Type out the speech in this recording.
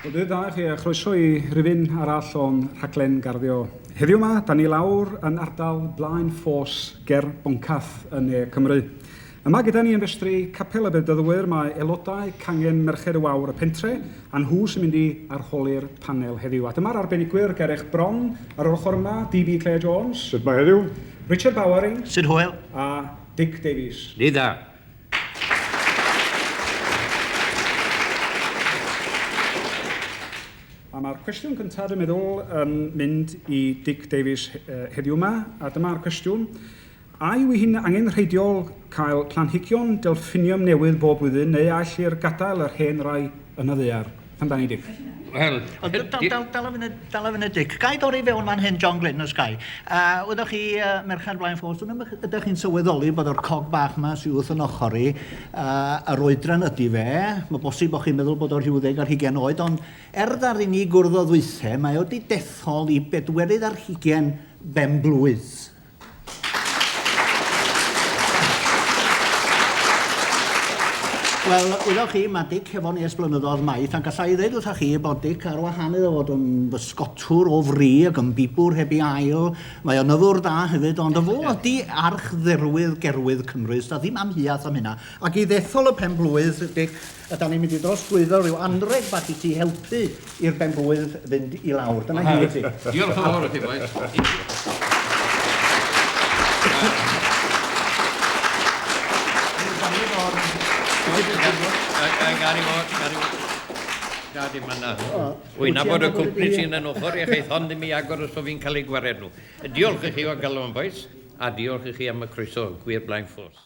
Bore da i chi a chroeso i rifyn arall o'n rhaglen garddio. Heddiw yma, da ni lawr yn ardal Blaen Ffos ger Boncath yn ne Cymru. Yma gyda ni yn festri Capel y Bedyddwyr mae aelodau cangen Merched y Wawr y pentre a nhw sy'n mynd i arholi'r panel heddiw. A dyma'r arbenigwyr, Gareth Bron ar yr ochr yma, DB Claire Jones. Sut mae heddiw? Richard Bowering. Sut hwyl? A Dic Davies. Ni da. A mae'r cwestiwn cyntaf, dwi'n meddwl, yn mynd i Dick Davies heddiw yma, a dyma'r cwestiwn. A yw hi'n angenrheidiol cael planhigion delffiniwm newydd bob blwyddyn neu all i'r gadael yr hen rai Yn y ddaear. Pam dan ni dic? Wel... O, dal, dal, dal, dal y funud, dal y funud Dic. Ga i dorri fewn fan hyn, John Glyn, os ga i. Uh, ydych chi, uh, Merched Blaen Ffos, ydych chi'n sylweddoli bod o'r cog bach yma sy'n wrth yn ochr i, uh, yr oedran ydy fe, mae bosib bod chi'n meddwl bod o'r rhyw ddeg ar hugen oed, ond er ddar i ni gwrdd o ddwythe, mae o wedi dethol i bedwerydd ar hugen ben blwydd. Wel, wyddoch chi, mae Dic hefo ni ers blynyddoedd maith, a gallai ddeud wrthoch chi bod Dic ar wahan iddo fod yn fysgotwr o fri ac yn bibwr heb ei ail. Mae o'n nyddwr da hefyd, ond fo ydi archdderwydd Gerwydd Cymru, sda ddim amheuaeth am hynna. Ac i ddethol y pen-blwydd, Dic, Ydan ni'n mynd i drosglwyddo rhyw anreg bach i ti helpu i'r benblwydd fynd i lawr. Dyna hi i ti. Diolch yn fawr i chi bois. Gad i fod, gad i fod. Gad i fan'na. Wi'n nabod y cwmni sy'n yn ochr i chi, hon ddim i agor os bo' fi'n cael eu gwared nhw. Diolch i chi o galon bois, a diolch i chi am y croeso, gwir blaen ffos.